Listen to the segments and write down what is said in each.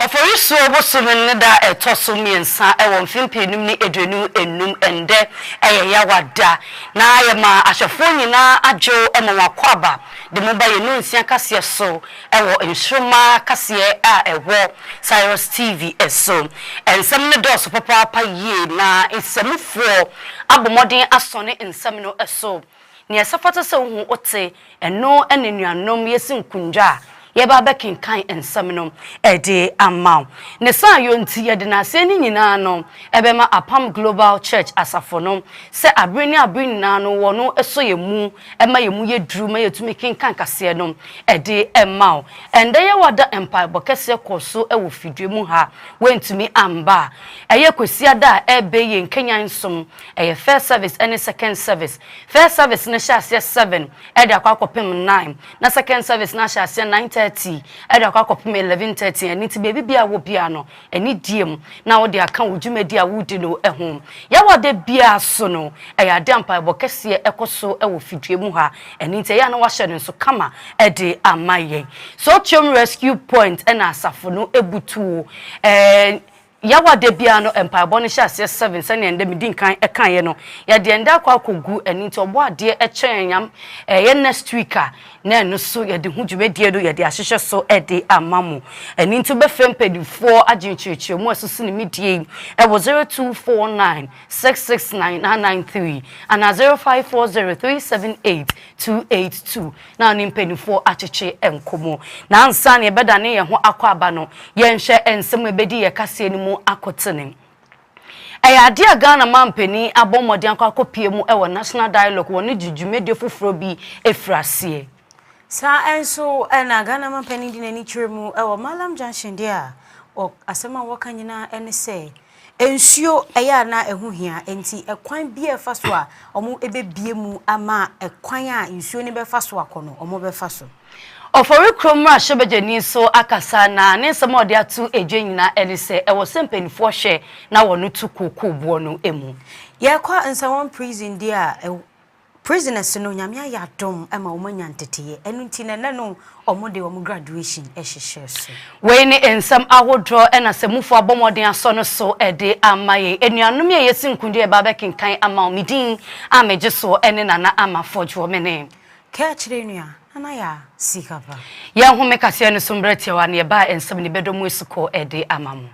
Oforisuo bosome no da a ɛtɔ so mmiɛnsa wɔ mfe mpeenum ne aduonum nnum ɛndɛ yɛ Yawa da na yɛma ahyɛfoɔ nyinaa adwo ma wɔakɔ aba de mo ba yɛn Nnɔnsia kaseɛ so wɔ nsoromma kaseɛ a ɛwɔ Syrus TV so. Nsɛm no dɔɔso papaapa yie na nsamufoɔ abɔ mmɔden asɔne nsɛm no so Nea ɛsɛfata sɛ ohu ote, ɛno na anuanom yɛsi nkundwa a yɛba abɛkenkan nsɛm no de ama. Ne saa yɔ nti, yɛde n'aseɛ no nyinaa no bɛma Apam Global Church Asafo no sɛ abere ne abere nyinaa no wɔ no sɔ yɛn mu ma yɛn mu yɛ duru ma yɛtumi kenkan kaseɛ no de ma. Ɛnda yɛwa da mpaebɔ kɛseɛ kɔɔ so wɔ fidua mu ha, woantumi amba a ɛyɛ Kwasiada a ɛbɛ yɛn kanyan som Ɛyɛ first service ɛne second service. First service no hyɛ aseɛ seven ɛde akɔ akɔpem nine na second service no ahyɛ aseɛ nine thirty ɛde akɔ akɔpem eleven thirty ɛno nti baabi biara a wowɔ biara no anidie mu na wode aka wo dwumadie a woredi no ho. Yɛwɔ a da biara so no ɛyɛ adeɛ a mpaebɔ kɛseɛ ɛkɔ so wɔ fidua mu ha ɛno nti ɛyɛ a na wɔahyɛ no nso kama de ama yɛn. Sotweom Rescue Point ɛna asafo no butuo. Yaw a da biara no mpaebɔ no hyɛ aseɛ seven sɛdeɛ ndɛ medi nkan kaeɛ no yɛdeɛ ndɛ akɔ akɔ gu ɛno nti ɔbɔ adeɛ kyɛ yɛn yam ɛyɛ next week a na ɛno so yɛde ho dwumadie no yɛde ahyehyɛ so de ama mo ɛno nti wobɛfrɛ mpaninfoɔ agye nkyerɛkyerɛmu a ɛsoso ne midie yi ɛwɔ zero two four nine six six nine nine nine three anaa zero five four zero three seven eight two eight two. na ɔne mpanimfoɔ akyekye nkɔmmɔ. Na ansa na yɛbɛdane yɛn ho akɔ aba no, yɛnhwɛ nsɛm a ɛbɛdi yɛn kaseɛ no mu akotene. Ɛyɛ adeɛ a Ghana mampanin abɔ mmɔden akɔ akɔpue mu wɔ National Dialogue wɔ ne dwumadie foforɔ bi firi aseɛ. Saa nso na Ghana mampanin de n'ani kyerɛ mu wɔ Mallam Junction deɛ a, asɛm a wɔka nyinaa ne sɛ Nsuo yɛ a na ɛho hia, enti kwan biara a ɛfa so a wɔbɛbue mu ama kwan a nsuo no bɛfa so akɔ no, wɔbɛfa so. Ofori kurom mmarahyɛbadwani nso akasa, na ne nsɛm a ɔde ato dwa nyinaa ne sɛ ɛwɔ sɛ mpanimfoɔ hwɛ na wɔto kuokuu boɔ no mu. Yɛkɔ Nsawam Prison deɛ a, Prisoners no Nyame ayɛ adom ma wɔn anya nteteyɛ ɛno nti na ɛnɛ no wɔn de wɔn graduation hyehyɛ so. Wei ne nsɛm ahodoɔ na asamufoɔ abɔ mmɔden asɔ no so de ama yɛn. Anuanom yi a yɛasi nkundi reba abɛkenkan ama wo, me din a megye soɔ ne Nana Ama Fodwoɔ. Me ne. Kaakyire nua, Nana Yaa Sikapa. Yɛnhome kaseɛ no so mberɛ tiawa na yɛbaa nsɛm ne bɛdɔ mu asukɔ de ama mo.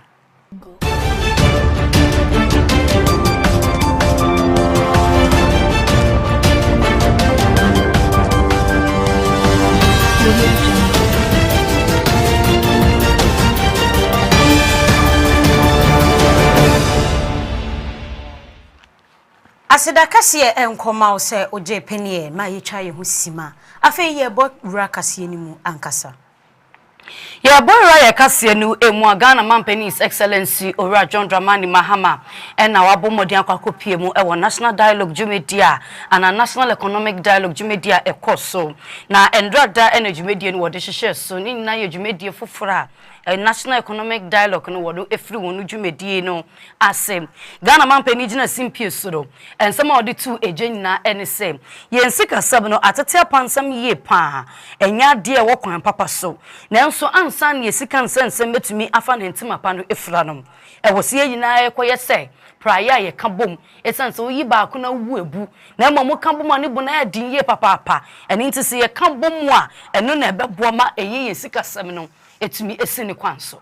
Aseda kɛseɛ nkɔma wo sɛ ogye pɛneɛ ma yɛtwa yɛn ho sima. Afei yɛrebɔ wura kaseɛ no mu ankasa. Yɛbɔ ewura yɛ kaseɛ no mu a Ghana Manpanin His Excellency Owura John Dramani Mahama na wabɔ mmɔden akɔ akɔpue mu wɔ National Dialogue dwumadie a anaa National Economic Dialogue dwumadie a ɛkɔ so na nnra da na dwumadie no wɔde hyehyɛɛ so ne nyinaa yɛ dwumadie foforɔ a National Economic Dialogue no wɔde firi wɔn dwumadie no ase. Ghana manpan yi gyina simpie so no, nsɛm a ɔde too egya nyinaa ne sɛ, Yɛn sikasɛm no, atete apansam yie pa ara, ɛnyɛ adeɛ a ɛwɔ kwan papa so. Nanso ansa na yɛn sika nsɛnsɛm bɛtumi afa ne ntoma pa no afira no, ɛwɔ sɛ yɛn nyinaa rekɔyɛ sɛ praeɛ a yɛka bom. Ɛsiane sɛ woyi baako na wobu abu, na mmom moka bom a ne bo no ayɛ den yie papaapa. Ɛno nti sɛ yɛka bom a, ɛno na ɛbɛboa ma ɛyɛ yɛn sikasɛm no atumi asi ne kwan so.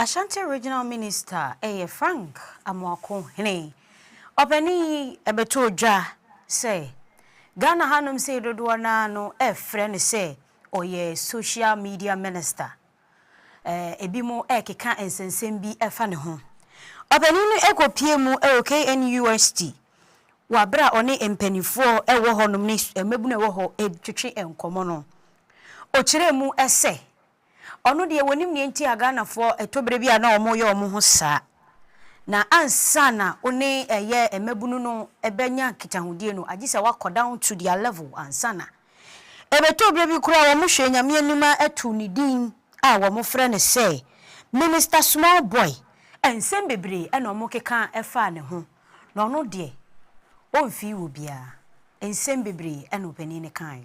Ashanti Regional Minister yɛ Frank Amoako Hene. Ɔpanin yi bɛtoo dwa sɛ Ghana hanom sei dodoɔ no ara no refrɛ no sɛ ɔyɛ Social Media Minister. Ebinom rekeka nsɛnsɛm bi fa ne ho. Ɔpanin no kɔpuee mu wɔ KNUST wɔ aberɛ a ɔne mpaninfoɔ wɔ hɔnom ne mmabunu a ɛwɔ hɔ retwetwe nkɔmmɔ no. Ɔkyerɛɛ mu sɛ Ɔno deɛ wɔnim deɛ nti a Ghanafoɔ ɛtɔ berɛ bi a na wɔyɛ wɔn ho saa. Na ansa na wo ne ɛyɛ mmabunu no bɛnya nkitahodie no, agye sɛ woakɔ down to their level ansa na. Ɛbɛtɔ berɛ bi koraa a wɔhwɛ Nyame anim a ɛto ne din a wɔfrɛ no sɛ Minister Small Boy. Nsɛm bebree na wɔkeka faa ne ho na ɔno deɛ ɔmfii obiara. Nsɛm bebree na ɔpanin no kaeɛ.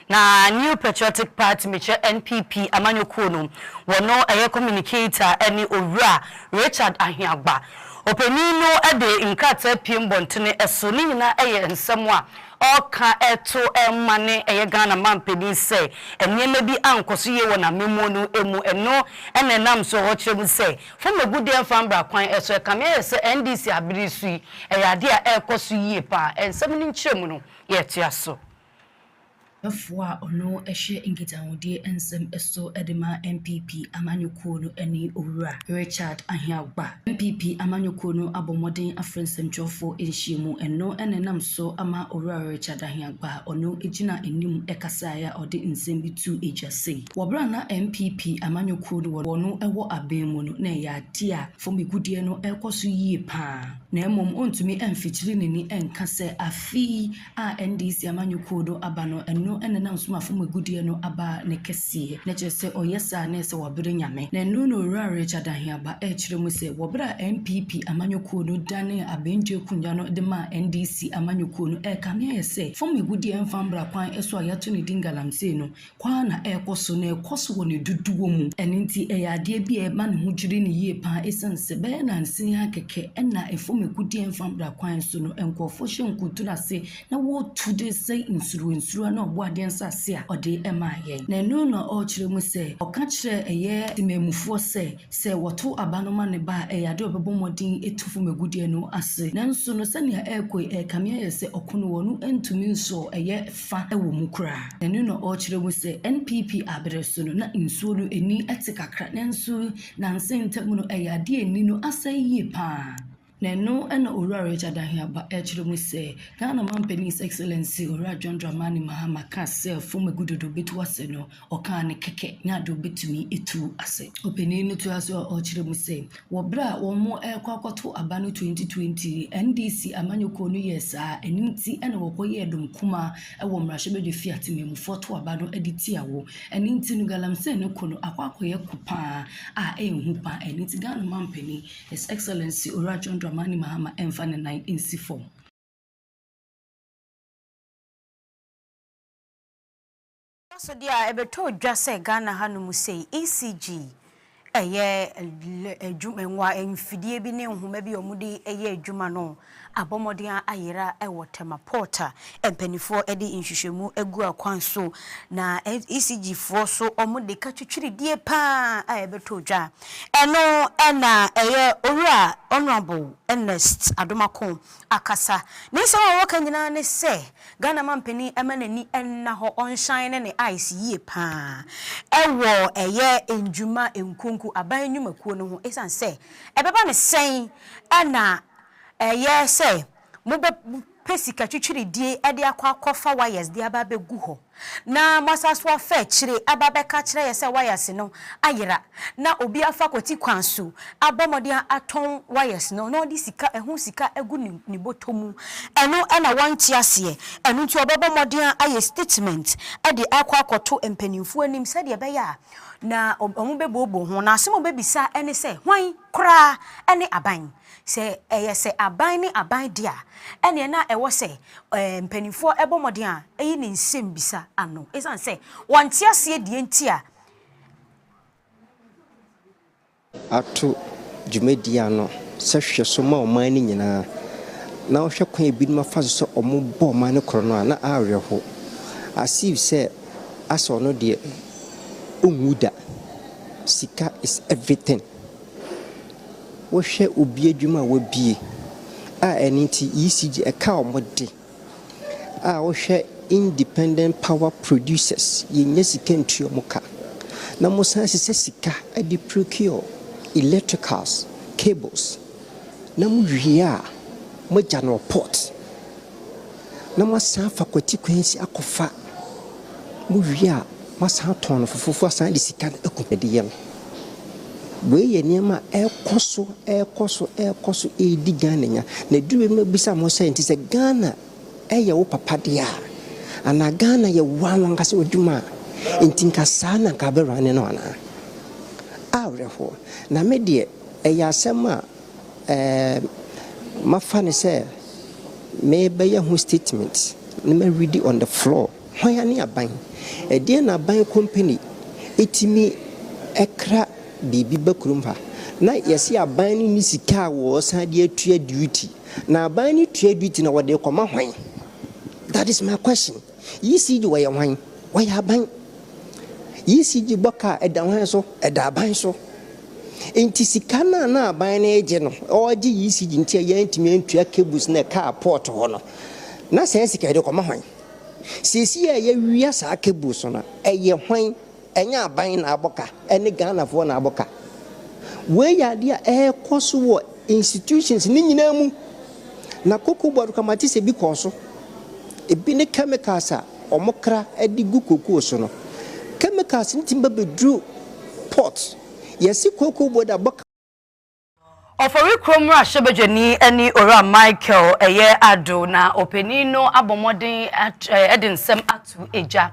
Na New Patriotic Party, mekyerɛ NPP amanyɔkuo no, wɔno ɛyɛ communicator ne Owura Richard Ahiagba. Ɔpanin no de nkrataa piem bɔntene so, ne nyinaa yɛ nsɛm a ɔreka to ma ne ɛyɛ Ghana manpanin sɛ nneɛma bi ankɔ so yie wɔ n'amammuo no mu. Ɛno na ɛnam so ɔrekyerɛ mu sɛ fɔmagu deɛ mfa mbra kwan so. Ɛkame ayɛ sɛ NDC abere so yi, ɛyɛ adeɛ a ɛrekɔ so yie pa ara. Nsɛm no nkyerɛmu no, yɛtoa so. Ɔyɛbɛfoɔ a ɔno hyɛ nkitahodie nsɛm so de ma NPP amanyɔkuo no ne Owura Richard Aheagbah. NPP amanyɔkuo no abɔ mmɔden afrɛ nsɛmtwerɛfoɔ nhyiamu, ɛno na ɛnam so ama Owura Richard Aheagbah a ɔno gyina anim kasaeɛ a ɔde nsɛm bi too dwa sɛ, wɔ berɛ a na NPP amanyɔkuo no wɔ no wɔ abɛn mu no, na ɛyɛ adeɛ a fam agudeɛ no rekɔ so yie pa ara, na mmom ɔntumi amfikyiri n'ani nka sɛ afe yi, a NDC amanyɔkuo do aba no, ɛno na na Ɔsomafo mu agudeɛ no aba ne kɛseɛ. Na kyerɛ sɛ ɔyɛ saa na ɛsɛ wɔbere Nyame. Na ɛno na Owura Richard Aheaba ɛɛkyerɛ mu sɛ wɔ berɛ a NPP amanyɔkuo no danee abɛndua akonnwa no de maa NDC amanyɔkuo no ɛɛkame ayɛ sɛ fam agudeɛ mfa mbra kwan so a yɛato ne din galamsey no Kwan na ɛrekɔ so, na ɛrekɔ so wɔ ne dodoɔ mu. Ɛno nti, ɛyɛ adeɛ bi a ɛma ne ho dwiri no yie pa ara ɛsiane sɛ bɛyɛ nnansa yi ara kɛkɛ na ɛfam agudeɛ mfamra kwan so no, nkurɔfoɔ hyɛ nkutoo ase na wɔretu de resɛe nsuruwansura ne ɔbɔadeɛ nsase a ɔde maa yɛn. Na ɛno na ɔrekyerɛ mu sɛ, ɔka kyerɛɛ ɛyɛ temammufoɔ sɛ, sɛ wɔto aba no ma ne ba a, ɛyɛ adeɛ a ɔbɛbɔ mmɔden atu fam agudeɛ no ase. Nanso no, sɛdeɛ ɛrekɔ yi, ɛrekame ayɛ sɛ ɔko no wɔn no ntumi nsɔɔ ɛyɛ fa wɔ mu koraa. Ɛno na ɔrekyerɛ mu sɛ NPP aberɛ so no na nsuo no ani te kakra nanso nansa ntam no ɛyɛ adeɛ a ani no asɛe yie pa ara. Na ɛno na Owura Richard Ahiaba rekyerɛ mu sɛ Ghana Mampanin His Excellency Owura John Dramani Mahama kaa sɛ fam agudodo bɛtu ase no Ɔkaa no kɛkɛ ne ade a obetumi atu ase. Ɔpanyin no toa so kyerɛ mu sɛ, Wɔ bere a wɔrekɔ akɔtow aba no 2020 NDC amanyɔkuo no yɛɛ saa, ɛno nti na wɔkɔyɛɛ dɔm kumaa wɔ mmarahyɛbadwa fi a temammufoɔ to aba no de tia wɔ. Ɛno nti no Galamsey no ko no akɔ akɔyɛ ko pa ara a ɛyɛ hu pa ara. Ɛno nti Ghana Manpanin His Excellency Owura John Dramani Mahama mfa ne nan nsi fam. Ahyɛnsode a ɛbɛtɔ dwa sɛ Ghana hanom sei, ECG, ɛyɛ adwuma mfidie bi ne nhoma bi a wɔde yɛ adwuma no abɔ mmɔden ayera wɔ Tema Port a mpaninfoɔ de nhwehwɛmu agu akwan so na ECG foɔ so wɔde ka twitwiridie pa ara a ɛbɛtɔ dwa. Ɛno na ɛyɛ Owura Honourable Ernest Adomakon akasa. Ne nsɛm a wɔka nyinaa ne sɛ Ghana mampanin mma n'ani nna hɔ ɔnhyane ne ne ice yie paa wɔ ɛyɛ ndwuma nkonku aban nnwumakuo no ho ɛsiane sɛ ɛbɛba no sɛn na ɛyɛ sɛ mobɛ pɛ sika twitwiridie de akɔ akɔ fa wires de aba abɛgu hɔ. Na Moasasoafɛ kyire aba bɛka kyerɛ yɛ sɛ wires no ayera na obi afa kwati kwan so abɔ mmɔden atɔn wires no na ɔde sika ɛho sika agu ne bɔtɔ mu. Ɛno na wɔnte aseɛ. Ɛno nti wɔbɛbɔ mmɔden ayɛ statement de akɔ akɔto mpaninfoɔ anim sɛdeɛ ɛbɛyɛ a na wɔbɛbuobuo ho. Na asɛm a wɔbɛbisa ne sɛ, hwan koraa ne aban? Sɛ ɛyɛ sɛ aban ne aban de a, ɛnneɛ na ɛwɔ sɛ mpanimfoɔ bɔ mmɔden a ɛyi ne nsɛmmisa ano ɛsiane sɛ wɔnte aseɛ deɛ nti a. ato dwumadie ano sɛ hwɛso ma ɔman no nyinaa, na ɔhwɛ kwan a ebinom afa so sɛ wɔbɔ ɔman no korɔno a, na awerɛhow. As if sɛ asɛ ɔno deɛ ɔnwu da. Sika is everything. Wohwɛ obi adwuma a wabue a ɛno nti ECG ɛka wɔn de a wohwɛ independent power producers yɛnnya sika ntua wɔn ka na wɔsan sesa sika de procure electricals cables na mowie a moagya no report. na moasan afa kwati kwan si akɔfa, mowie a moasan atɔn no fofofo asan ade sika no aku adeyɛ no. Wei yɛ nneɛma a ɛrekɔ so, ɛrekɔ so, ɛrekɔ so redi Ghana nya. Na ɛduru baabi no mɛbisa mo sɛ, nti sɛ Ghana yɛ wo papa deɛ a, anaa Ghana yɛ wo ara w'ankasa w'adwuma a, nti nka saa na nka wobɛrane no anaa? Awerɛhoɔ. Na me deɛ, ɛyɛ asɛm a Ɛɛ, mafa no sɛ merebɛyɛ ho statement na ma readi on the floor. Hwan ara ne aban? Ɛdeɛn na aban company ɛtumi kra biribi ba kurom ha na yɛse aban no nni sika a wɔsan de atua duty? Na aban no tua duty no wɔde rekɔma hwan? That is my question. ECG wɔyɛ hwan? Wɔyɛ aban. ECG bɔ ka a, ɛda hwan so? Ɛda aban so. Nti sika no a na aban no regye no, ɔregye ECG nti a yɛantumi antua cables no a ɛkaa port hɔ no, na saa sika yi de kɔma hwan? Seesei a yɛawia saa cables no a, ɛyɛ hwan? Ɛnyɛ aban na abɔ ka, ɛne Ghanafoɔ na abɔ ka. Wei yɛ adeɛ a ɛrekɔ so wɔ institutions no nyinaa mu. Na cocoa board kwamate sɛ bi kɔɔ so. Ebi ne chemicals a wɔkra de gu cocoa so no. Chemicals no tumi ba bɛduru port. Yɛse cocoa board abɔ ka. Ɔfɔri kuro mmarahyɛbadwani ne Owura Michael ɛyɛ Ado na ɔpanin no abɔ mmɔden ɛde nsɛm ato egya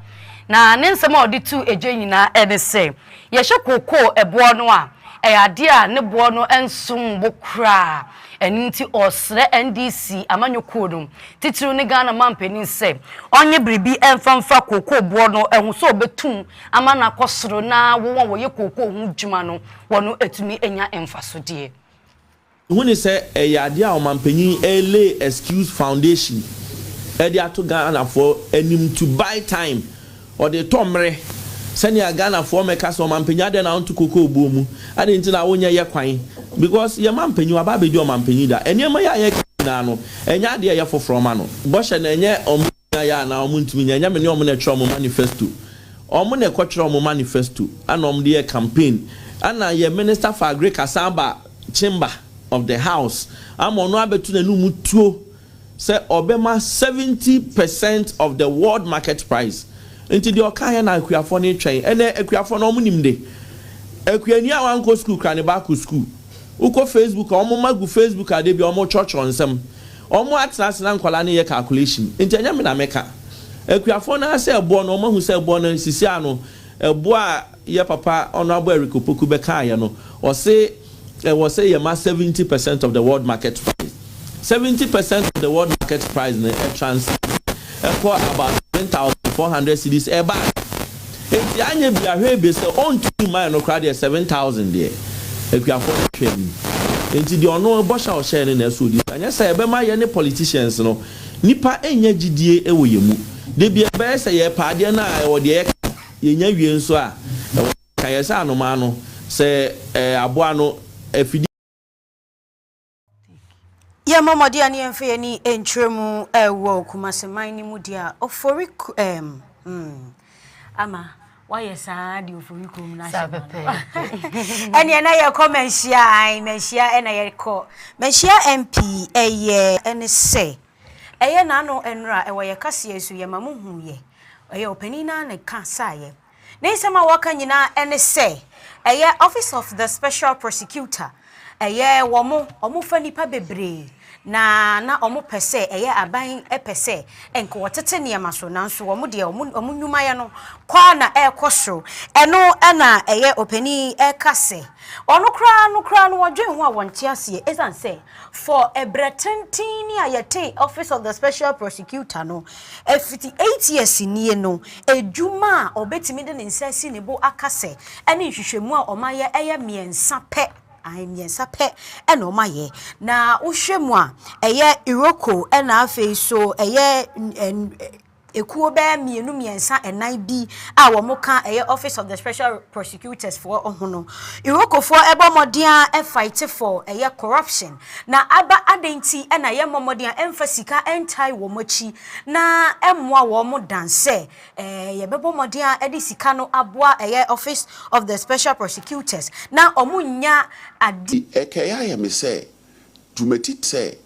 na ne nsɛm a ɔde to egya nyinaa ɛne sɛ yɛhyɛ kookoo ɛboɔ no a ɛyɛ adeɛ a ne boɔ no nsom bo koraa ɛno nti ɔresrɛ NDC amanyɔkuo no titiriw ne Ghana mampanin sɛ ɔnye biribi ɛmfa mfa kookoo boɔ no ɛho sɛ ɔbɛtum ama no akɔ soro na wɔn a wɔyɛ kookoo ho dwuma no wɔn atumi anya mfaso deɛ. Hu ne sɛ ɛyɛ adeɛ a ɔmanpanyin lay excuse foundation de ato Ghanafoɔ anim to buy time, ɔde retɔ mmerɛ sɛnea Ghanafoɔ mmɛka sɛ ɔmanpanyin adɛn na wonto kokoo buo mu, adɛn nti na wonyɛ yɛ kwan because yɛn manpanyin waba abɛdi ɔmanpanyin da, nneɛma yi a yɛreka yi nyinaa no ɛnyɛ adeɛ a ɛyɛ foforɔ ma no, bɔhyɛ no ɛnyɛ ɔman. nyinaa yɛ anaa ɔmo ntumi nyɛ ɛnyɛ me ne ɔmo na ɛtwerɛ ɔmo manifesto ɔmo na ɛkɔtwerɛ ɔmo manifesto ɛna ɔmo de yɛ campaign ɛna yɛ minister for agric asan aba chamber of the house ama ɔno abɛtu n'anum tuo sɛ ɔbɛma 70 percent of the world market price nti deɛ ɔka yɛ na akuafoɔ no retwɛn ɛnɛ akuafoɔ no ɔmo nim de akuani a wankɔ school kura ne baako school wokɔ facebook a ɔmo ma gu facebook a de bi ɔmo kyerɛkyerɛ nsɛm Ɔmo atena ase na nkwadaa no yɛ calculation nti ɛnyɛ me na mɛka. Akuafoɔ no ara sɛ ɛboɔ no ɔmo ahu sɛ ɛboɔ no sisi ano. Ɛboɔ a yɛ papa Honourable Eric Opoku bɛkaeɛ no ɔse ɛwɔ sɛ yɛ ma seventy percent of the world market price. Seventy percent of the world market price no ɛtranscend ɛkɔ about seven thousand four hundred cedis ɛba. Enti anyɛ bia hwɛ ebia sɛ ɔntumi mmae no koraa deɛ seven thousand deɛ akuafoɔ no twɛ anim enti deɛ ɔno bɔhyɛ a ɔhyɛɛ no na ɛsɛ ɔdi so anyɛ saa ɛbɛma yɛne politicians no nnipa nnya gyidie wɔ yɛn mu da bi ɛbɛyɛ sɛ yɛpɛ adeɛ no a ɛwɔ deɛ yɛka no yɛnya wie nso a ɛwɔ ka yɛ sɛ anomaa no sɛ ɛɛ aboa no afidie Yɛmmɔ mmɔden a ne yɛmfa yɛn ani nkyerɛ mu wɔ Kumasi man no mu deɛ a Ofori ɛɛm mm, ama woayɛ saa de Ofori kurom no ahyɛ ma no. Ɛneɛ na yɛkɔ manhyia ae manhyia ɛna yɛkɔ manhyia MP ɛyɛ ɛne sɛ ɛyɛ n'ano nnora ɛwɔ yɛ kaseɛ so yɛma mo hu yɛ ɛyɛ ɔpanin no ara na ɛka saeɛ. Ne nsɛm a waka nyinaa ne sɛ ɛyɛ Office of the Special Prosecutor, ɛyɛ wɔn, wɔfa nnipa bebree na na wɔpɛ sɛ ɛyɛ aban pɛ sɛ nka wɔtete nneɛma so nanso wɔn deɛ wɔn wɔn nnwumayɛ no kɔ ara na ɛrekɔ soro. Ɛno na ɛyɛ ɔpanin yi reka sɛ wɔn koraa no koraa no wɔdwen ho a wɔnte aseɛ ɛsiane sɛ For ɛbrɛ tenten ni a yɛtee Office of the Special Prosecutor no afiti eight years nie no, adwuma a ɔbɛtumi de ne nsa asi ne bo aka sɛ ɛne nhwehwɛmu a ɔmayɛ ɛyɛ mmiɛnsa pɛ, ae, mmiɛnsa pɛ na ɔmayɛ. Na wohwɛ mu a ɛyɛ Iroko ɛna afei nso ɛyɛ. Ekuo bɛyɛ mmienu mmiɛnsa ɛnan bi a wɔn ka ɛyɛ Office of the Special Prosecutors foɔ ho no, Iroko foɔ ɛbɔ mmɔden ara ɛfighte for ɛyɛ corruption na aba adɛn nti na yɛn mmɔ mmɔden a ɛnfa sika ɛntae wɔn akyi na ɛmmoa wɔn dan sɛ ɛɛ yɛbɛbɔ mmɔden ara ɛde sika no aboa ɛyɛ Office of the Special Prosecutors na wɔn nnya ade Ɛkɛyɛ ayɛ me sɛ dwumadit sɛ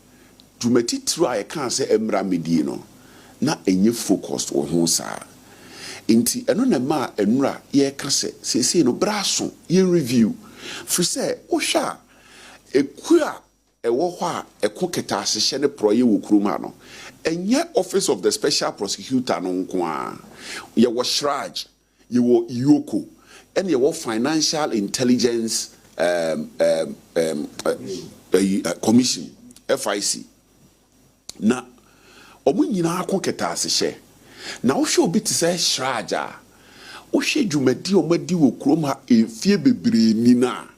dwuma titiriw a yɛkaa sɛ ɛmmra mmedie no, na ɛnyɛ focused wɔ ho saa. Enti ɛno na ɛmaa nnora yɛreka sɛ seesei no berɛ aso yɛn review. Firi sɛ wohwɛ a, ɛkuo a ɛwɔ hɔ a ɛko kɛtɛasehyɛ ne porɔeɛ wɔ kurom ha no, ɛnyɛ Office of the Special Prosecutor no nko ara. Yɛwɔ Shraj. Yɛwɔ Ioko, ɛna yɛwɔ Financial Intelligence ɛɛm ɛɛm ɛɛm ɛyi ɛ Commission, FIC. Na wɔn nyinaa ko kɛtɛasehyɛ. Na wohwɛ obi te sɛ Siraj a, wohwɛ dwumadi a wɔadi wɔ kurom ha mfeɛ bebree ni no a,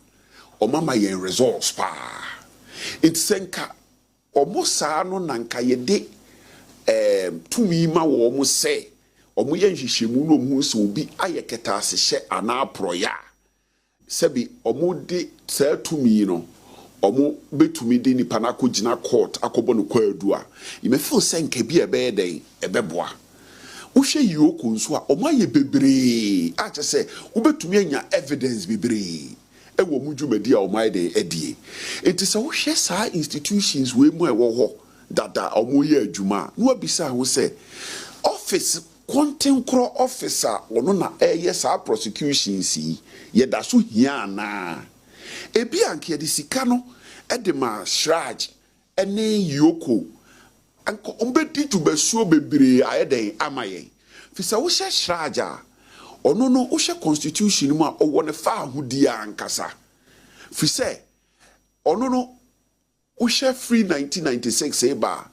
wɔama yɛn results paa. Nti sɛ nka. Wɔn saa no na anka yɛde tumi ma wɔn sɛ wɔyɛ nhwehwɛmu na wɔhu sɛ obi ayɛ kɛtɛasehyɛ anaa porɔeɛ a, sɛbe wɔde saa tumi no wɔbɛtumi de nipa no akɔgyina kɔɔt akɔbɔ no kwaadu a, me feel sɛ anka bi a ɛbɛyɛ dɛn? Ɛbɛboa. Wohwɛ Yioko nso a, wɔayɛ bebree a kyerɛ sɛ wobɛtumi anya evidence bebree. wɔ wɔn dwumadi a wɔayɛ dɛn adie. Nti sɛ wohwɛ saa institutions wei mu a ɛwɔ hɔ dada a wɔreyɛ adwuma a, na woabisa ho sɛ, office, kɔntenkorɔ office a ɔno na ɛreyɛ saa prosecutions yi, yɛda so hia anaa? Ebia anka yɛde sika no de ma Siraj ne Yoko nka ɔmbɛdi dwumasuo bebree ayɛ dɛn ama yɛn firi sɛ wohyɛ Sraja a ɔno no wohwɛ constitution no mu a ɔwɔ ne faahodie ankasa firi sɛ ɔno no wohwɛ firi nineteen ninety six reba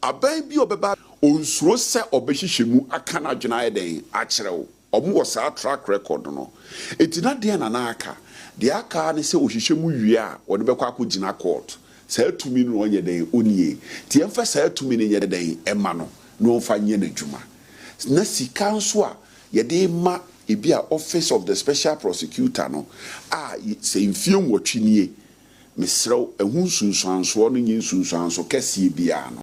a aban bi a ɔbɛba ɔnsuro sɛ ɔbɛhwehwɛ mu aka n'adwene ayɛ dɛn akyerɛ wo. Wɔwɔ saa track record no. Enti na deɛn na na aka? Deɛ aka ara ne sɛ ɔhyehyɛ mu wie a, wɔde bɛkɔ akɔgyina court. Saa tumi no na ɔnyɛ dɛn? Ɔnnie. Enti yɛmfa saa tumi no nyɛ dɛn? Mma no na ɔmfa nyɛ n'adwuma. Na sika nso a yɛde rema ebi a office of the special prosecutor no a sɛ mfeɛ nwɔtwe nie, mesrɛ wo, ɛho nsunsuansoɔ no nyɛ nsunsuanso kɛseɛ biara no.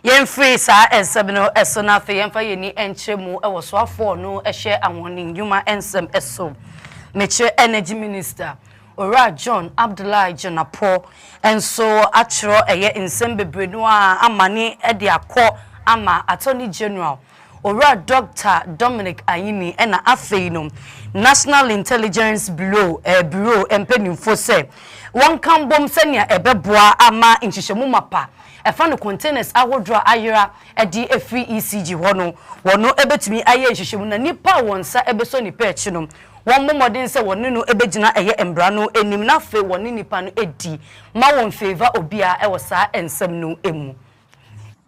Yɛmfiri saa nsɛm no so na afei yɛmfa yɛn ani nkyerɛ mu wɔ soafoɔ a ɔno hyɛ ahoɔden nnwuma nsɛm so, mekyerɛ Energy Minister, Owura John Abdullahi Dzonapour nso atwerɛ ɛyɛ nsɛm bebree no ara amane de akɔ ama Attorney General Owura Dɔkta Dominic Ayine na afei no National Intelligence Bureau Bureau mpanyimfo sɛ wɔnka mbom sɛnea ɛbɛboa ama nhyehyɛmu mapa ɛfa no containers ahodoɔ a ayera de afiri ECG hɔ no wɔn bɛtumi ayɛ nhyehyɛmu na nipa a wɔn nsa bɛsɔ nipa akyi no wɔmmɔ mmɔden sɛ wɔne no bɛgyina ɛyɛ mmara no anim na afei wɔne nipa no adi ma wɔn favour obiara wɔ saa nsɛm no mu.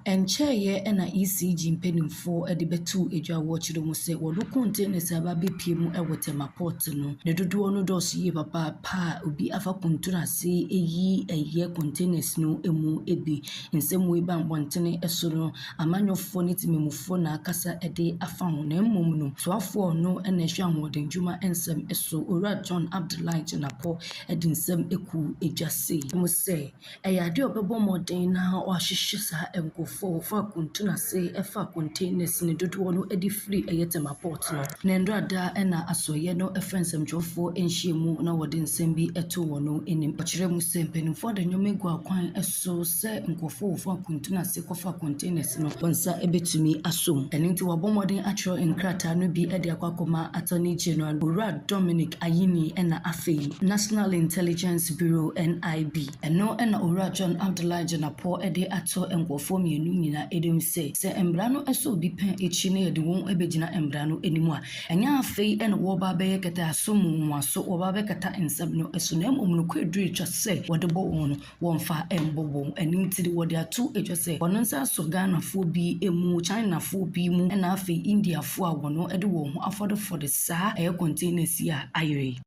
Ɛnkyɛeɛ na ECG mpanimfoɔ de bɛtoo dwa wɔ kyerɛ mu sɛ wɔn kɔntɛnas a aba abɛpue mu wɔ Tema Port no, ne dodoɔ no dɔɔso yie papaapa a obi afa kuntunu ase ayi ayɛ kɔntɛnas no mu bi. Nsɛm wei baa mmɔntene so no, amanyɔfoɔ ne temammufoɔ na akasa de afa ho, na mmom no, soafoɔ a ɔno na ɛhwɛ ahoɔdennwuma nsɛm so, Owura John Abdullahi Jinapor de nsɛm kuu dwa sei, Wɔse, Ɛyɛ adeɛ a ɔbɛbɔ mmɔden na wahwehwɛ saa nkurɔfoɔ a wɔfa akuntunu ase fa containers no dodoɔ no de firi ɛyɛ Tema Port no. Na nnora da na Asoɛeɛ no frɛ nsɛmtwerɛfoɔ nhyiamu na wɔde nsɛm bi to wɔn anim. Ɔkyerɛɛ mu sɛ mpanimfoɔ de nneɛma agu akwan so sɛ nkurɔfoɔ a wɔfa akuntunu ase akɔfa containers no, wɔn nsa betumi asɔ mu. Ɛno nti, wɔabɔ mmɔden akyerɛw nkrataa no bi de akɔ akɔma Attorney General, Owura Dominic Ayine na afei National Intelligence Bureau, NIB. Ɛno na Owura John Abdullahi Dzenapo de ato nkurɔfoɔ mmienu nyinaa anim sɛ, sɛ mmara no sɔ obi pɛ akyi na yɛde wɔn bɛgyina mmara no anim a, ɛnyɛ afei na wɔreba abɛyɛ kɛtɛaso mu nwowaso, wɔreba abɛkata nsɛm no so, na mmom nokorɛ duru atwa sɛ wɔde bɔ wɔn wɔmfa mbɔbɔ mu. Ɛno nti no, wɔde ato dwa sɛ wɔn nsa sɔ Ghanafoɔ bi mu, Chinafoɔ bi mu, ɛna afei Indiafoɔ a wɔde wɔn ho afɔdefɔde saa air containers yi a ayera yi.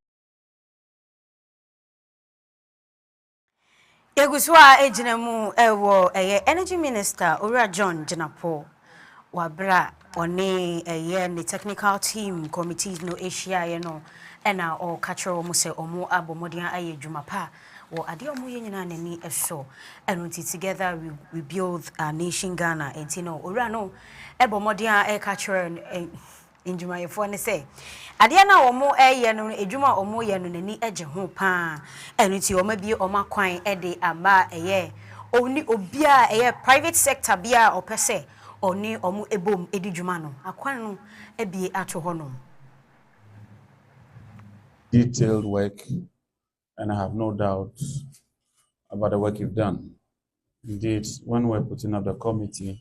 Yɛgu so ara gyina mu wɔ ɛyɛ Energy Minister, Owura John Gyinapour, Wɔ bere a ɔne ɛyɛ ne technical team committees no hyiaeɛ no na ɔreka kyerɛ wɔn sɛ wɔabɔ mmɔden ayɛ adwuma pa wɔ adeɛ a wɔyɛ nyinaa n'ani so ɛno nti together we, we build our nation Ghana nti no owura no ɛbɔ mmɔden a ɛreka kyerɛ ndwumayɛfoɔ ne sɛ adeɛ no a wɔreyɛ no no adwuma a wɔreyɛ no n'ani gye ho pa ara ɛno nti wɔabue wɔn akwan de ama a ɛyɛ wɔn ne obia a ɛyɛ private sector biara a ɔpɛ sɛ ɔne wɔn bom di dwuma no akwan no abue ato hɔ nom. detailed work and I have no doubt about the work you've done. Indeed, when we're putting up the committee,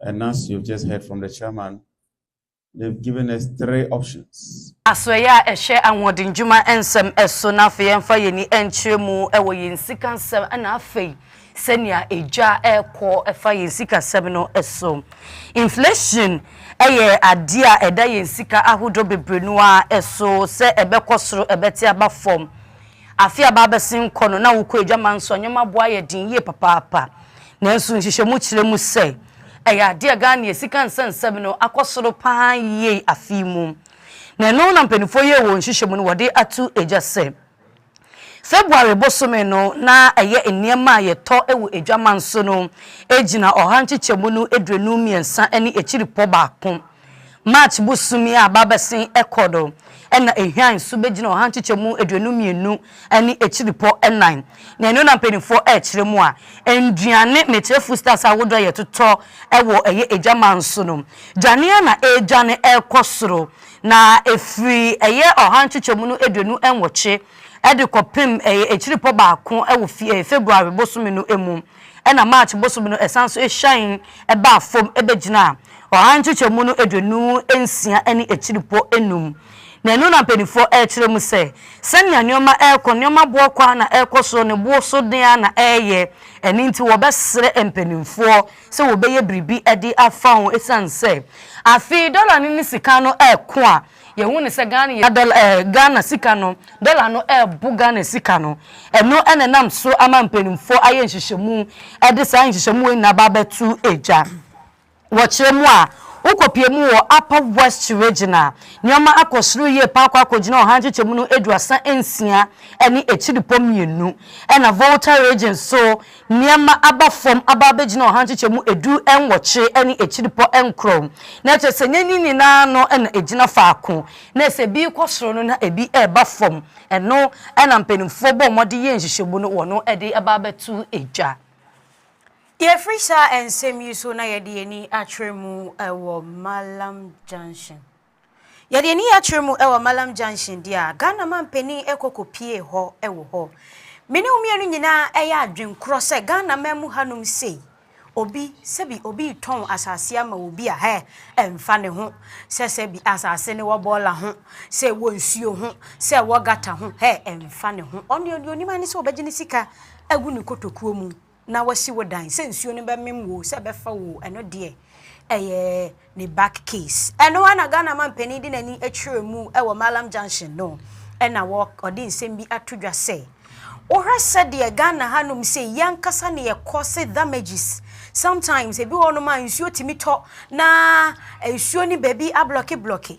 And as you've just heard from the chairman, they've given us three options. Asoɛeɛ a ɛhwɛ ahoɔdendwuma nsɛm so na afei yɛmfa yɛn ani nkyerɛ mu wɔ yɛn sikasɛm na afei sɛnea edwa rekɔ fa yɛn sikasɛm no so. Inflation yɛ adeɛ a ɛda yɛn sika ahodoɔ bebree no ara so sɛ ɛbɛkɔ soro, ɛbɛte aba fam. Afe a aba abɛsen kɔ no, na wokɔ adwaman nso a, nneɛma bo ayɛ den yie papaapa. Nanso nhwehwɛmu kyerɛ mu sɛ, ɛyɛ adeɛ a Ghanea sika nsɛnsɛm no akɔ soro pa ara yie afe yi mu. Na ɛno na mpanimfoɔ yɛɛ wɔn nhwehwɛmu no wɔde ato dwa sɛ, February bosome no na ɛyɛ nneɛma a yɛtɔ wɔ adwaman so no gyina ɔha nkyekyɛmu no aduonu mmiɛnsa ne akyiripɔ baako. March bosoom yi a aba abɛsen kɔ do na Ehwian so begyina ɔha nkyekyɛmu eduonu mmienu ne akyiripɔ nan. Nea ɛno na mpanyinfoɔ rekyerɛ mu a, nduane, mekyerɛ foodstuffs ahodoɔ a yɛtotɔ wɔ ɛyɛ adwaman so no, dwaneɛ na ɛredwane rekɔ soro. Na ɛfiri ɛyɛ ɔha nkyekyɛmu no aduonu nwɔtwe de kɔpem ɛyɛ akyiripɔ baako wɔ February bosome no mu. Ɛnna March bosome no ɛsan so hyɛn baa fam bɛgyinaa ɔha nkyekyɛmu no aduonu nsia ne akyiripo nnum. Na ɛno na mpanimfoɔ rekyerɛ mu sɛ, sɛnea nneɛma rekɔ, nneɛma boɔ kɔ ara na ɛrekɔ soro, ne boɔ so den ara na ɛreyɛ. Ɛno nti, wɔbɛsrɛ mpanimfoɔ sɛ wɔbɛyɛ biribi de afa ho, ɛsiane sɛ afei dɔla no ne sika no reko a, Yɛhu no sɛ Ghana yɛ dɔla ɛɛ Ghana sika no, dɔla no rebo Ghana sika no. Ɛno na ɛnam so ama mpanimfoɔ ayɛ nhyehyɛmu de saa nhyehyɛmu wei nyinaa aba abɛto gya. Wɔkyerɛ mu a, wokɔpue mu wɔ Upper West Region a, nneɛma akɔ soro yie pa ara akɔ akɔgyina ɔha nkyekyɛmu no aduasa nsia ne akyiripɔ mmienu, ɛnna Volta Region nso, Nneɛma aba fam aba abɛgyina ɔha nkyekyɛmu edu nwɔtwe ne akyiripɔ nkorɔ mu. Na kyerɛ sɛ nneɛma yi nyinaa ano na ɛgyina faako. Na sɛ ebi rekɔ soro no na ebi reba fam. Ɛno na mpanimfoɔ bɔ mmɔden yɛ nhyehyɛmu no wɔn de aba abɛto dwa. Yɛfiri saa nsɛm yi so na yɛde yɛn ani akyerɛ mu wɔ Mallam Junction. Yɛde ani akyerɛ mu wɔ Mallam Junction deɛ a, Ghana manpanin kɔ kɔpiee hɔ wɔ hɔ. Me ne wo mmienu nyinaa yɛ adwene korɔ sɛ Ghana man mu hanom sei, obi, sɛbi obi retɔn asase ama obi a, hɛ, ɛmfa ne ho sɛ sɛbi asase no wɔ bɔɔla ho, sɛ ɛwɔ nsuo ho, sɛ ɛwɔ gata ho, hɛ, ɛmfa ne ho. Ɔno deɛ ɔnim ara ne sɛ ɔbɛgye ne sika agu ne kotokuo mu na wasi wo dan sɛ nsuo no bɛmem wo sɛ ɛbɛfa wo ɛno deɛ ɛyɛ ne back case ɛno ara na Ghana mampanin de n'ani akyerɛ mu ɛwɔ Mallam Junction no ɛna wɔ ɔde nsɛm bi ato dwa sɛ wohwɛ sɛdeɛ Ghana hanom sɛ yɛn ankasa na yɛkɔ se damages sometimes ebi wɔ nom a nsuo tumi tɔ na nsuo ne baabi ablɔke blɔke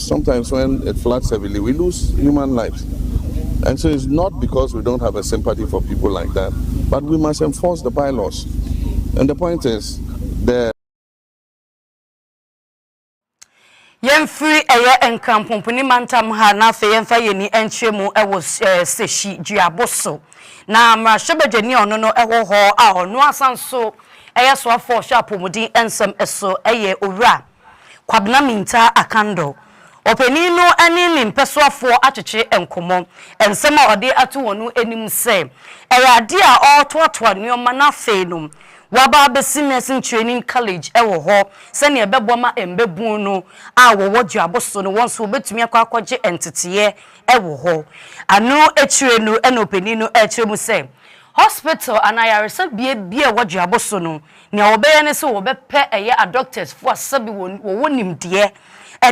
Sometimes when it floods heavily we lose human lives and so it's not because we don't have a sympathy for people like that but we must enforce the bylaws and the point is the yɛmfiri ɛyɛ nkrampomponi mantam ha na afei yɛmfa yɛn ani nkyerɛ mu wɔ sehyi duabo so na mmarahyɛbadwani a ɔno no ɛwɔ hɔ a ɔno asan so ɛyɛ soafoɔ ɔhwɛ apɔmuden nsɛm so ɛyɛ owura Kwabena Mintah Akando. Ɔpanin no ne ne mpɛsoafoɔ atwetwe nkɔmmɔ. Nsɛm a ɔde ato wɔn anim sɛ, ɛyɛ adeɛ a ɔretoatoa nneɛma na afei no, waba abɛsi Nursing Training College wɔ hɔ sɛdeɛ ɛbɛboa ma mmabunu no a wɔwɔ duabo so no, wɔn nso wɔbɛtumi akɔ akɔgye nteteeɛ wɔ hɔ. Ɛno akyire no na ɔpanin no rekyerɛ mu sɛ, Hospital anaa ayaresabea biara a ɛwɔ duabo so no, Nea wɔbɛyɛ ne sɛ wɔbɛpɛ ɛyɛ adɔktɛsfoɔ a sɛbe wɔwɔ nimdeɛ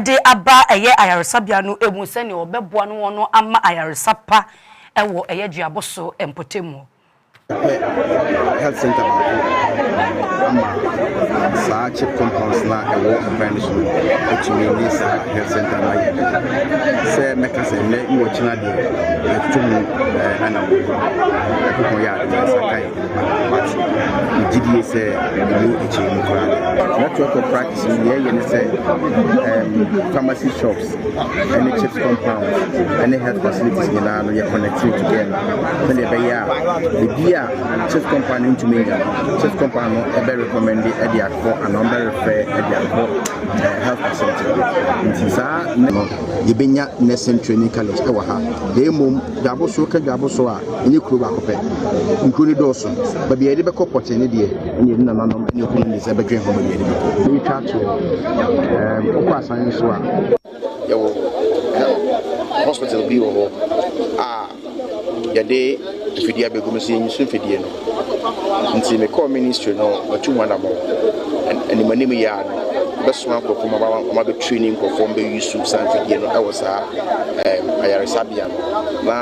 de aba ɛyɛ ayaresabea no mu sɛnea wɔbɛboa no wɔn ama ayaresa pa wɔ ɛyɛ duabɔ so mpɔtam hɔ. Yɛpɛ health center baako ama saa chip compounds na ɛwɔ nkran no so no atumi ne saa health center no ayɛ de sɛ mɛka sɛ nnɛ ne wɔkyena deɛ yɛtoto mu ɛna wɔ ɛkokɔ yɛ adeɛ sakae wate megye die sɛ ɛmu akyiri mu koraa no network of practice no deɛ ɛyɛ ne sɛ um, pharmacy shops ɛne chip compound ɛne health facilities nyinaa no yɛ connecting together sɛdeɛ ɛbɛyɛ a ebi a chip compound no ntumi nya no chip compound no ɛbɛ recommend ɛde akɔ anaa ɔbɛ refer ɛde akɔ eh, health facility nti saa ne no yɛbɛnya nursing training college ɛwɔ ha na mmom dwaboso ka dwaboso a Ɛnyɛ kuro baako pɛ. Nkuro no dɔɔso. Baabi a yɛde bɛkɔ pɔtee no deɛ, ɛneɛ ne nananom ne okununom de nsa bɛdwene ho baabi a yɛde bɛkɔ. Meretwa ato hɔ. Wokɔ Asan nso a. Yɛwɔ hospital bi wɔ hɔ a yɛde mfidie abɛgu mu. Sɛ yɛnyi so mfidie no. Ntsi mekɔr ministry no, metuu ho anamɔn. Animanim yi ara no, wɔbɛsoma nkorɔfo ma wɔabɛtreini nkorɔfo ma wɔabeyi su sa mfidie no wɔ saa ayaresabea no, na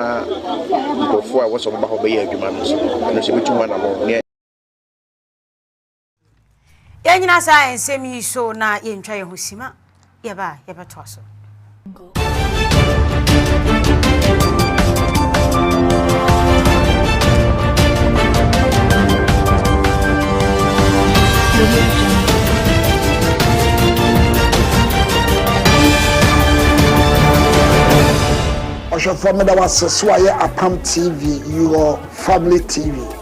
nkorɔfo a wɔsɛ wɔbɛba hɔ bɛyɛ adwuma no nso, ɛno nso yɛbɛtu ho anamɔn. Yɛnnyina saa nsɛm yi so na yɛntwa yɛn ho sima. Yɛba a yɛbɛtoa so. ɔhwɛfoɔ meda wo ase so ayɛ apam tv your family tv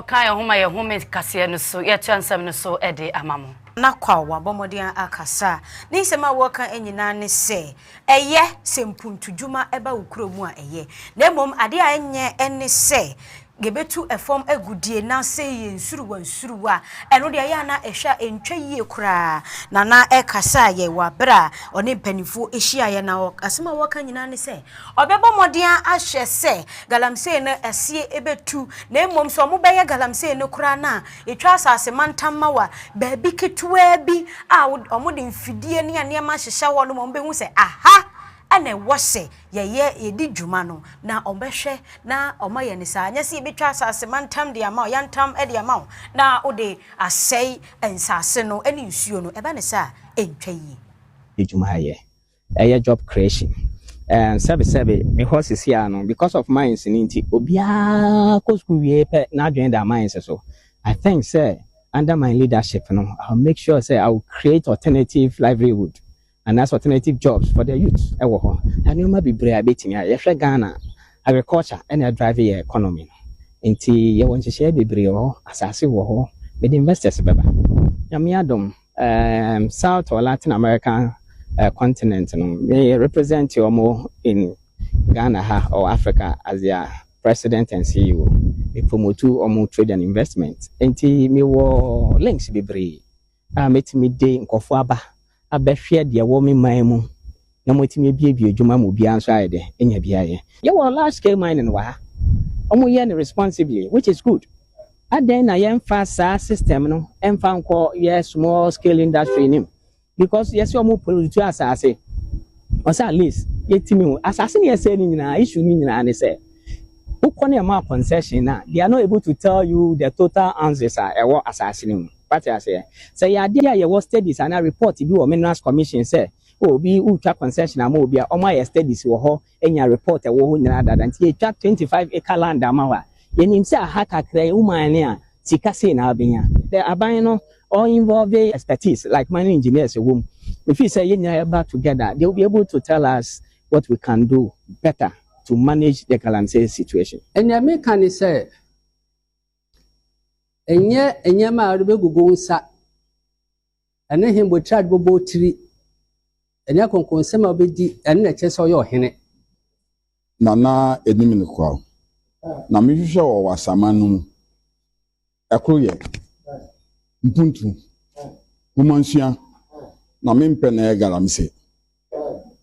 ɔka yɛn ho ma yɛn home kaseɛ no so yɛatua nsɛm no so de ama mo. na kwa wabɔ mmɔden akasa ne nsɛm a wɔka nyinaa ne sɛ Ɛyɛ sɛ mpuntudwuma ba wo kuro mu a ɛyɛ. Na mmom adeɛ a ɛnyɛ ne sɛ yɛbɛtu fam agudeɛ anaasɛ yɛ nsuruwa nsuruwa. Ɛno deɛ ɛyɛ a na ɛhwɛ a ɛntwa yie koraa. Na na ɛkasa a yɛ wɔ aberɛ a ɔne mpanimfoɔ hyiaeɛ na asɛm a wɔka nyinaa ne sɛ ɔbɛbɔ mmɔden ahwɛ sɛ galamsey no aseɛ bɛtu na mmom sɛ wɔbɛyɛ galamsey no koraa no a Yɛtwa asase mantam ma wa baabi ketewaa bi a wɔde mfidie ne nneɛma ahyehyɛ hɔ nom a wɔbɛhu sɛ aha na ɛwɔ sɛ yɛyɛ yɛdi dwuma no na wɔbɛhwɛ na wɔayɛ no saa. Nyɛ sɛ yɛbɛtwa asase mantam de ama wo, yantam de ama wo na wode asɛe nsase no ne nsuo no. Ɛba no saa a, ɛntwa yie. Adwumayɛ, Ɛyɛ job creation and sɛbe sɛbe me hɔ sisi a no because of mines no nti obiara kɔ school wie pɛ n'adwene da mines so. I think sɛ under my leadership no I will make sure sɛ I will create alternative livelihood anaasɛ alternative jobs for the youth wɔ hɔ. Nneɛma bebree a yɛbɛtumi ayɛ. Yɛhwɛ Ghana a agriculture na ɛdrive yɛn economy no nti yɛwɔ nhyehyɛe bebree wɔ hɔ, asase wɔ hɔ, mede investors bɛba Nyame adom. Erm South or Latin American eh, continent no, me represent ɔmo in Ghana ha or Africa as their president and CEO. Me promote ɔmo trade and investment. Enti me wɔ links bebree a mɛtumi de nkorɔfoɔ aba abɛhwɛ deɛ ɛwɔ me man mu. na moatumi abuebue adwuma ma obiara nso ayɛ dɛ anya bi ayɛ. Yɛwɔ large scale mining wɔ ha, ɔmo yɛ no responsibly which is good, adɛn na yɛnfa saa system no nfa nkɔ yɛ small scale industry no mu because yɛse ɔmo pollutu asaase, ɔsɛ at least yɛtumi hu asaase na yɛsɛe no nyinaa, issue no nyinaa ne sɛ wokɔ na ɛma concession no a they are not able to tell you the total ounces a ɛwɔ asaase no mu, wate aseɛ? Sɛ ɛyɛ adeɛ a yɛwɔ studies anaa report bi wɔ minerals commission sɛ Oh obi retwa concession ama obi a wɔn ayɛ studies wɔ hɔ anya report ɛwɔ hɔ nyinaa dada nti yɛtwa twenty five acre land ama wo a yɛnim sɛ aha kakra yi wo man no a sika sei na wobɛnya. The aban no ɔ involve expertise like mining engineers ɛwɔ mu mefeel sɛ yɛn nyinaa yɛba together they will be able to tell us what we can do better to manage the galamsey situation. Nea meka ne sɛ ɛnyɛ nneɛma a wode bɛgugu wo nsa. Ɛne he bɔ tiri a ɔde bɛbɔ wo tiri? Ɛne akɔnkɔnsɛm a wobɛdi, ɛno na ɛkyerɛ sɛ ɔyɛ ɔhene. Nana anim no kura wo. Na mehwehwɛ wɔ w'asaman no mu. Ɛkoro yɛ mpuntu, womansua, na mempɛ na ɛyɛ galamsey.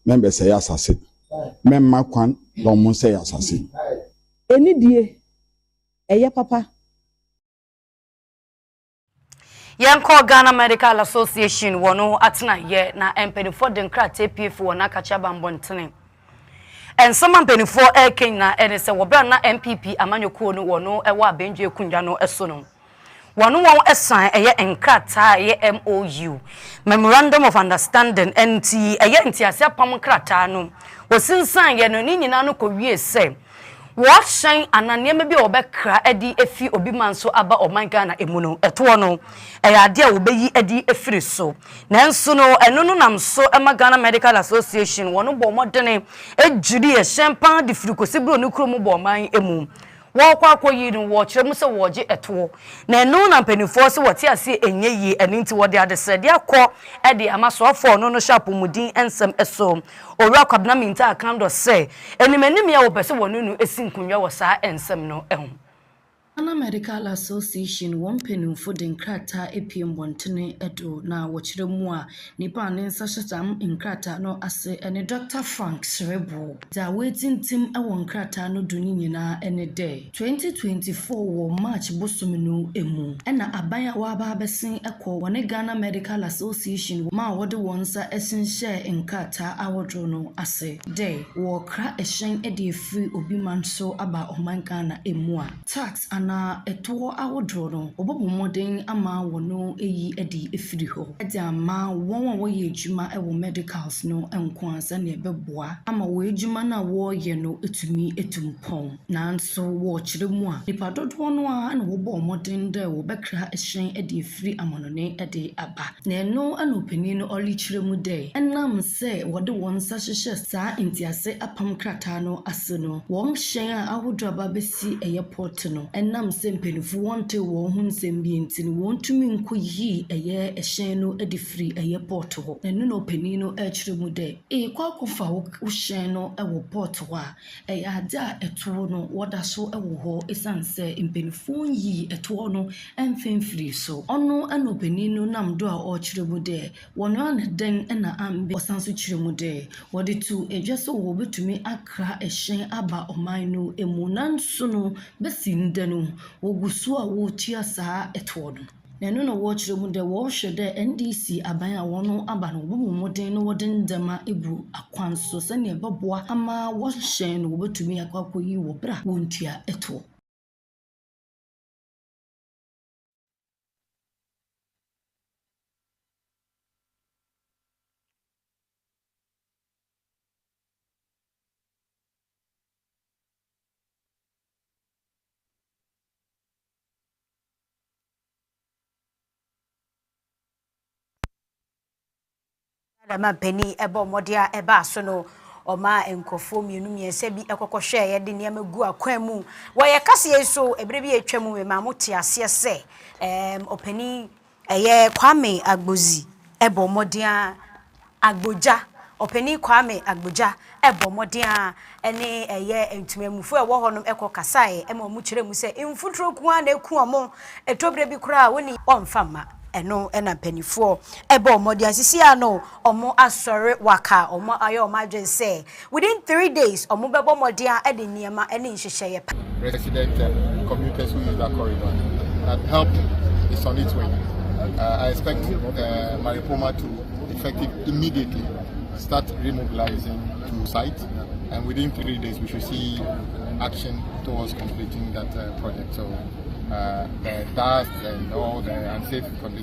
Mɛmbɛsɛe asase. Mɛmma kwan na wɔn nsɛe asase. Anidie, ɛyɛ papa. Yɛnkɔ Ghana Medical Association wɔn atenaeɛ na mpanimfoɔ de nkrataa pie fi wɔn akakye aba mmɔntene. Nsɛm a mpanimfoɔ reka nyinaa ɛne sɛ wɔ berɛ a na NPP amanyɔkuo no wɔn wɔ abɛndua akonnwa no so no, wɔn wɔn san ɛyɛ nkrataa a ɛyɛ MOU, Memorandum of Understanding, ɛnti ɛyɛ ntease apam nkrataa no wɔsinsanyɛ no ne nyinaa no kɔwie sɛ wɔahyɛn anaa nneɛma bi a wɔbɛkra adi afi obi man so aba ɔman Ghana mu no, ɛtoɔ no, ɛyɛ adeɛ a wɔbɛyi adi afiri so. Nanso no, ɛno no nam so ma Ghana Medical Association, wɔn bɔ mmɔdene dwiri ɛhyɛn pa ara de firi kɔsi Buro no kuro mu bɔ ɔman mu. Wɔrekɔ akɔyi no, wɔkyerɛ mu sɛ wɔregye ɛtoɔ. Na ɛno na mpanimfoɔ se wɔte aseɛ ɛnyɛ yie, ɛno nti wɔde adesrɛdeɛ akɔ de ama soafoɔ a ɔno no hyɛ apɔmuden nsɛm so. Owura Kwabena Mintah ka dɔ sɛ animanim yɛ a wɔpɛ sɛ wɔne no si nkonnwa wɔ saa nsɛm no ho. Ghana Medical Association wɔn mpanyimfo de nkrataa apue mmɔntene do na wɔkyerɛ mu a nipa a ne nsa hyɛ saa nkrataa no ase ne Dɔkta Frank Serebour. Dza woetsimtsim wɔ nkrataa no do no nyina nye dɛ, Twenty twenty four wɔ March bosome no mu na aban a wɔaba abɛsen kɔ wɔne Ghana Medical Association ma a wɔde wɔn nsa hyenhyɛɛ nkrataa ahodoɔ no ase dɛ wɔɔkra ɛhyɛn de afiri obi man so aba ɔman Ghana mu a tax anaa ɛtoɔ ahodoɔ no wɔbɔbɔ mmɔden ama wɔno ayi adi afiri hɔ de ama wɔn a wɔyɛ adwuma wɔ medicals no nko ara sɛdeɛ ɛbɛboa ama wɔn adwuma no a wɔɔyɛ no atumi atu mpɔn. Nanso wɔ ɔkyerɛ mu a, nnipa dodoɔ no ara na wɔbɔɔ mmɔden dɛ wɔbɛkra hyɛn de afiri amanɔne de aba. Na ɛno na ɔpanin no ɔrekyerɛ mu dɛ, ɛnam sɛ wɔde wɔn nsa hyehyɛ saa ntease apam krataa no ase no, wɔn hyɛn a ahodoɔ aba abɛsi ɛyɛ port no, ɛnam sɛ mpaninfoɔ wɔntee wɔn ho nsɛm bi nti no, wɔntumi nkɔyii ɛyɛ hyɛn no de firii ɛyɛ port hɔ. Ɛno na ɔpanin no rekyerɛ mu dɛ, Eekɔ akɔfa wo hyɛn no wɔ port hɔ a, Ɛyɛ ade a ɛtoɔ no wɔda so wɔ hɔ ɛsiane sɛ mpaninfoɔ nyii ɛtoɔ no mfa mfirii so. Ɔno na ɔpanin no nam do a ɔrekyerɛ mu dɛ wɔn ara na dɛn na ambe. Ɔsan nso kyerɛ mu dɛ wɔde to dwa sɛ wɔbɛtumi akra ɛhyɛn aba ɔman no mu nanso no bɛsi ndɛ no wɔgu so a wɔretua saa ɛtoɔ no. na ɛno na wɔrekyerɛ mu dɛ wɔrohwɛ dɛ NDC aban a wɔaba no wɔbɔbɔ mbɔdzen na wɔdze ndzɛmba egu akwan so sɛnea ɔbɔboa ama wɔhyɛn no wobotumi akɔ akoyi wɔ ber a wonntua tow. Ghana mampanin bɔ mmɔden a ɛbaa so no, ɔmaa nkurɔfoɔ mmienu mmiɛnsa bi kɔkɔ hwɛɛ yɛde nneɛma gu akwan mu. Wɔ yɛn kaseɛ yi so, ɛberɛ bi a atwa mu, memaa mo te aseɛ sɛ ɛɛm ɔpanin Ɛyɛ Kwame Agbodzi bɔ mmɔden ara, Agbodza, Ɔpanyin Kwame Agbodza bɔ mmɔden ara ne ɛyɛ ntumamufo a ɛwɔ hɔnom kɔ kasaeɛ ma wɔn kyerɛɛ mu sɛ mfuturo nko ara na ɛku wɔn, ɛtɔ berɛ bi koraa a wɔn ne wɔn mfa mma. Ɛno na mpaninfoɔ bɔɔ mmɔden ara. Sisi ara no, Ɔmo asɔre waka, ɔmo ayɛ ɔmo adwene sɛ within three days ɔmo bɛbɔ mmɔden a ɛde nneɛma ne nhyehyɛeɛ pa. resident and commuters who use that corridor that help is on its way I expect Maripoma to effective immediately start remobilizing to site and within three days we should see action towards completing that project so the dust and all the unsafe conditions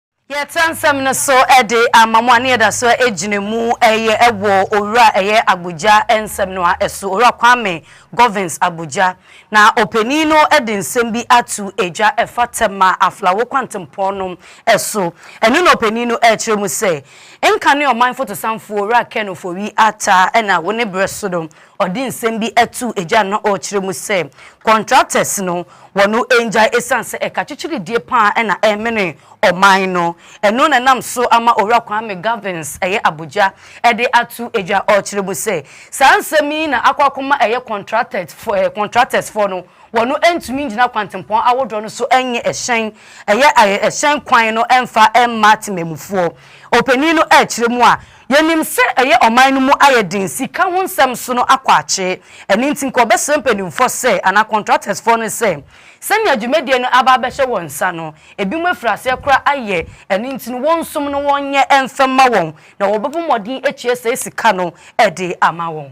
Yɛtra nsɛm no so de ama mo a ne yɛda so gyina mu yɛ wɔ Owura a ɛyɛ Agbogya nsɛm no ara so, Owura Kwame Govins Agbogya. Na ɔpanin no de nsɛm bi ato dwa ɛfa Tema Aflao kwantempɔn no so. Ɛno na ɔpanin no rekyerɛ mu sɛ, Nka ne ɔman fotosanfoɔ Owura Ken Ofori-Atta na wo ne berɛ so no Ɔde nsɛm bi too agya no na ɔrekyerɛ mu sɛ contractors no wɔ no ngyae ɛsiane sɛ ɛka kyekyeredie paa na ɛremene ɔman no. Ɛno na ɛnam so ama Owura Kwame Gavins ɛyɛ abogya de ato agya ɔrekyerɛ mu sɛ saa nsɛm yi na akɔ akɔma ɛyɛ contractors fo eh, contractors foɔ no wɔ no ntumi ngyina kwantempɔn awodoɔ no so nye ɛhyɛn ɛyɛ eh, ɛhyɛn kwan no mfa mma temamufoɔ. Ɔpanin no ɛrekyerɛ mu a Yɛnim sɛ ɛyɛ ɔman no mu ayɛ den sika ho nsɛm so no akwakye. Ɛno nti nka wɔbɛsrɛ mpanimfoɔ sɛ, anaa kɔntratɛsfoɔ no sɛ, sɛnea dwumadie no aba abɛhyɛ wɔn nsa no, ebinom afiri aseɛ koraa ayɛ, ɛno nti no wɔnsom no wɔnyɛ mfa mma wɔn, na wɔbɛbɔ mmɔden atua saa sika no de ama wɔn.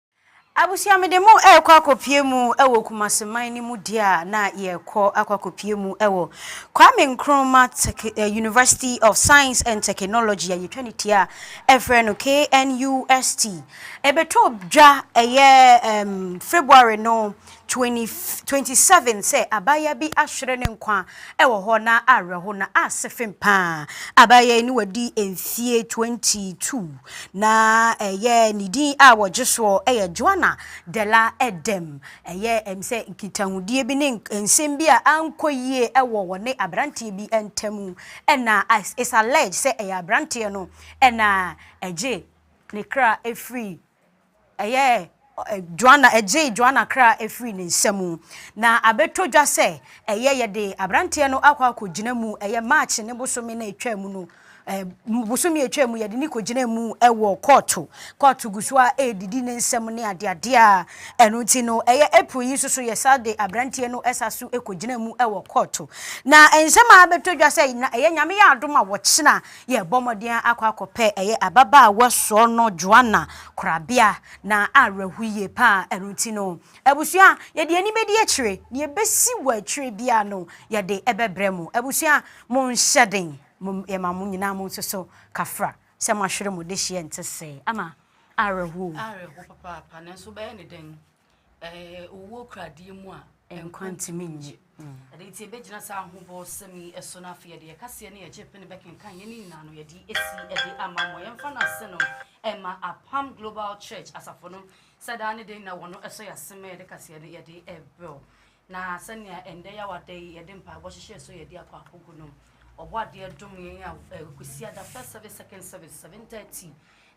Abusua mede mo rekɔ akɔpue mu wɔ Kumasi man no mu deɛ a na yɛrekɔ akɔ akɔpue mu wɔ Kwame Nkrumah Tech University of Science and Technology a yɛtwa ne tia a ɛfrɛ no KNUST. Ɛbɛtɔ dwa ɛyɛ um, February no 27 sɛ abaayewa bi ahwere ne nkwa wɔ hɔ na awerɛho na ase fem paa. Abaayewa yi na wadi mfeɛ 22 na ɛyɛ ne din a wɔgye soɔ yɛ Joana Della Edem. Ɛyɛ ɛm sɛ nkitahodie bi ne nsɛm bi a ankɔ yie wɔ wɔne aberanteɛ bi ntam na it's alleged sɛ ɛyɛ aberanteɛ no na ɛgye ne kra firi Ɛyɛɛ Joanna, ɛgyee Joanna kra firii ne nsa mu. Na abɛtɔ dwa sɛ, ɛyɛ yɛde aberanteɛ no akɔ akɔgyina mu, ɛyɛ March ne bosome no a ɛtwaa mu no, bosome a ɛtwaa mu, yɛde no kɔgyinaa mu wɔ kɔɔto. Kɔɔto gu so ara redidi ne nsɛm ne adeadeɛ a, ɛno nti no, ɛyɛ April yi nso so, yɛsan de aberanteɛ no san so kɔgyinaa mu wɔ kɔɔto. Na nsɛm a abɛtɔ dwa sɛ, na ɛyɛ Nyame yɛ adom a wɔkyena Yɛrebɔ mmɔden akɔ akɔpɛ ɛyɛ ababaawa sɔɔ no Joanna korabea na awerɛho yie paa ɛno nti no abusua yɛde ani bɛdi akyire nea ɛbɛsi wɔ akyire biara no yɛde ɛbɛbrɛ mo abusua monhyɛ den mom yɛma mo nyinaa mo nso so kafra sɛ moahwere mo dehyeɛ ɛnte sɛɛ ama awerɛho o. Awerɛho papaapa nanso wobɛyɛ ne dɛn. Owuo kura adeɛ mu a nkwa ntumi nnye. Ɛno nti yɛbɛgyina saa ahobɔsɛm yi so no afei yɛde yɛkaseɛ ne yɛgye pene bɛkenkan yɛne nyinaa no yɛde asi de ama mmɔ yɛmfa no ase no ɛma apam global church asafo no sɛ daa ne den na wɔn ɛsɔ yɛ asem yɛde kaseɛ no yɛde ɛbrɛw na sɛnea ɛndɛ yɛ awada yi yɛde mpaebɔ hyehyɛ so yɛde akɔ akogo no ɔbɔ adeɛ dom yɛn a ɛkwasi ada first service second service 7:30